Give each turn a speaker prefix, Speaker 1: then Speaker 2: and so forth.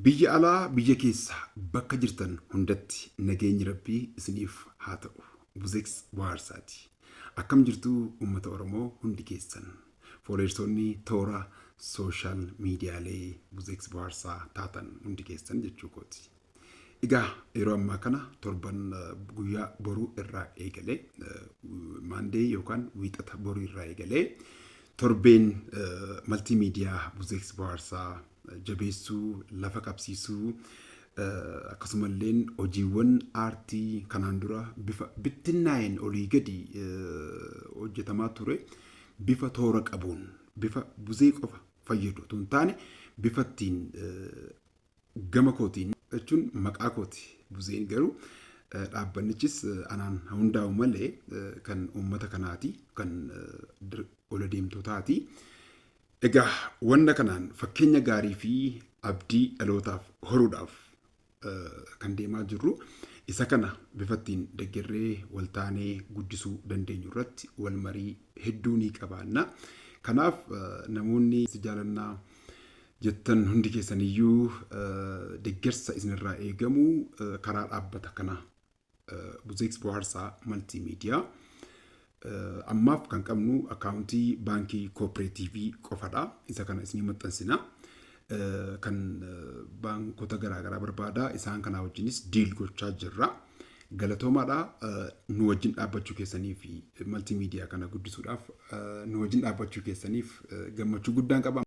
Speaker 1: Biyya alaa biyya keessa bakka jirtan hundatti nageenyi rabbii isiniif haa ta'u. Buzex Bohaarsaati. Akkam jirtu uummata Oromoo hundi keessan. Fooleersoonni toora sooshaal miidiyaalee Buzex Bohaarsaa taatan hundi keessan jechuu kooti. Egaa yeroo ammaa kana torban guyyaa boruu irraa eegalee maandee yookaan wiixata boruu irraa eegalee torbeen maltii miidiyaa buzeeks bohaarsaa jabeessuu lafa qabsiisuu akkasumalleen hojiiwwan aartii kanaan dura bifa bittinnaa'een olii gadi hojjetamaa ture bifa toora qabuun bifa buzee qofa fayyadu tun taane bifa ittiin Gama kootiin jechuun maqaa kooti buzeen garuu dhaabbannichis anaan haa hundaa'u malee kan uummata kanaati kan ola deemtootaati. Egaa wanna kanaan fakkeenya gaarii fi abdii dhalootaaf horuudhaaf kan deemaa jirru isa kana bifattiin deggerree waltaanee guddisuu dandeenyu irratti wal marii hedduu ni qabaanna. Kanaaf namoonni si jaalannaa jettan hundi keessaniyyuu deggersa isinirraa eegamu karaa dhaabbata kanaa Buzeeks Bohaarsaa Maltii Miidiyaa ammaaf kan qabnu akkaawuntii baankii koopereetiivii qofadha. Isa kana isinii maxxansina. Kan baankota garaagaraa barbaada. Isaan kanaa wajjinis diil gochaa jirra. Galatoomaadha. Nu wajjin dhaabbachuu keessanii fi maltii miidiyaa kana guddisuudhaaf nu wajjin dhaabbachuu keessaniif gammachuu guddaan qaba.